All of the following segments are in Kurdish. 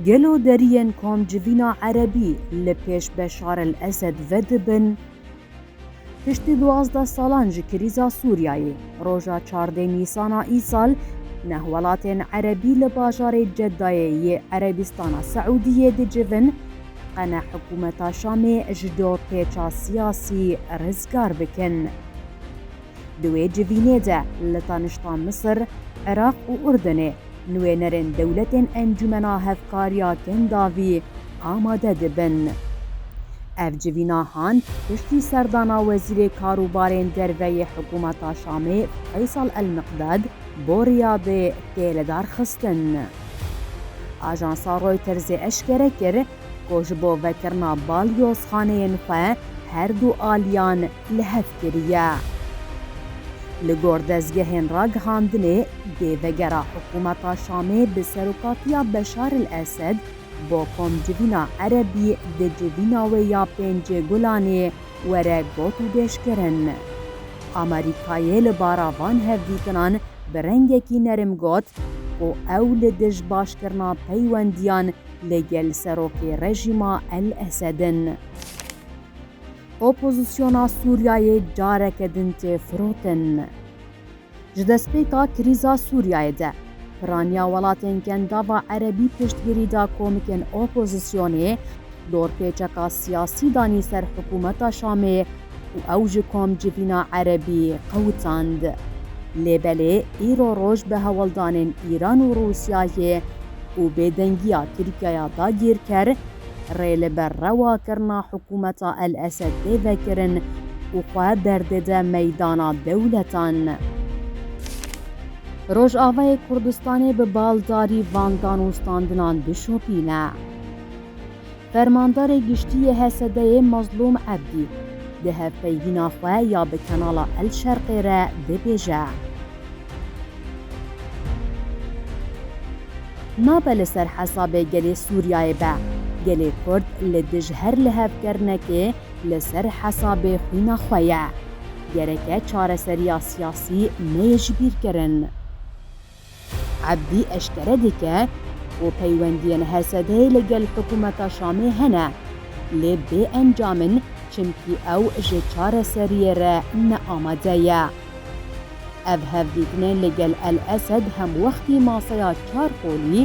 Gelo deriyên kom civîna Erebî li pêş Beşar el Esed vedibin? Piştî duwazdeh salan ji krîza Sûriyayê, roja çardê Nîsana îsal neh welatên Erebî li bajarê Ceddayê yê Erebîstana Seûdiyê dicivin qene hikûmeta Şamê ji do pêça siyasî rizgar bikin. Di wê civînê de li tanişta Misir, Iraq û Urdunê nûênerên dewletên Encûmena Hevkariya Kendavî amade dibin. Ev civîna han piştî serdana Wezîrê Karûbarên Derve yê Hikûmeta Şamê Feysal El-Miqdad bo Riyadê tê lidarxistin. Ajansa Reutersê eşkere kir ku ji bo vekirina balyozxaneyên xwe her du aliyan li hev kiriye. Li gor dezgehên ragihandinê, dê vegera hikûmeta Şamê bi serokatiya Beşar el Esed bo komcivîna Erebî di civîna wê ya Pêncê Gulanê were gotûbêjkirin. Amerîkayê li bara van hevdîtinan bi rengekî nerim got ku ew li dij başkirina peywendiyan li gel serokê rejîma El Esed in. Opozisyona Sûriyeyê careke din tê firotin. Ji destpêka krîza Sûriyeyê de, piraniya welatên Kendava Erebî piştgirî da komikên opozisyonê, dorpêçeka siyasî danî ser hikûmeta Şamê û ew ji komcivîna Erebî qewitand. Lê belê îro roj bi hewldanên Îran û Rûsyayê û bêdengiya Tirkiyaya dagîrker, rê li ber rewakirina hikûmeta El Esed tê vekirin û xwe derdide meydana dewletan. Rojavayê Kurdistanê bi baldarî van danûstandinan dişopîne. Fermandarê Giştî yê HSD'ê Mazlûm Ebdî di hevpeyvîna xwe ya bi kanala El Şerqê re dibêje, Nabe li ser hesabê gelê Sûriyayê be. Gelê Kurd li dij her lihevkirinekê li ser hesabê xwîna xwe ye. Gereke çareseriya siyasî neyê jibîrkirin. Ebdî eşkere dike ku peywendiyên HSD'ê li gel hikûmeta Şamê hene, lê bê encam in çimkî ew ji çareseriyê re ne amade ye. Ev hevdîtinê li gel El-Esed hemwextî maseya çar qolî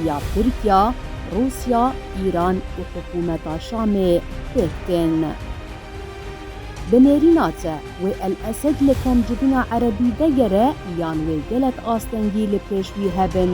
ya Tirkiya, Rûsya, Îran û hikûmeta Şamê pêk tên. Bi nêrîna te, wê El-Esed li kemjibûna Erebî vegere yan wê gelek astengî li pêş wî hebin?